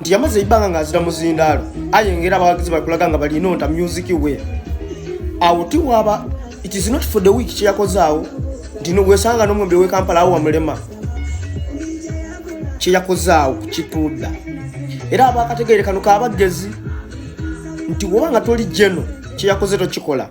nti yamaze ebbanga ng'azira muzindaalo ayengera abawagizi bakulaga nga balina onta music we awo tiwaaba it is not for the week kyeyakoze awo nti wesanga n'omwembe wekampala awo wamulema kyeyakoze awo kukituudda era abakategeere kano kabagezi nti woba nga toli jeno kyeyakoze tokikola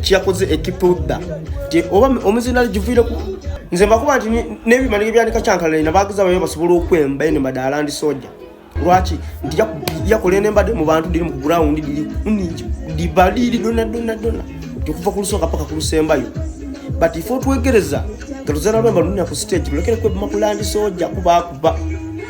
kyakoze ekipa odda ti oba omuzindaalo giviireku nze mbakuba nti n'ebimani ebyandika kyankalalina bagiza bayo basobola okwemba ene mbadde alandi soja lwaki nti yakola ene mbadde mu bantu diri mu ground diri kuningi dibaliiri donna donna donna nti okuva ku lusooka paka ku lusembayo but ife otwegereza nga luzana lwemba lunina ku stage mulekere kwebima ku landi soja kubakuba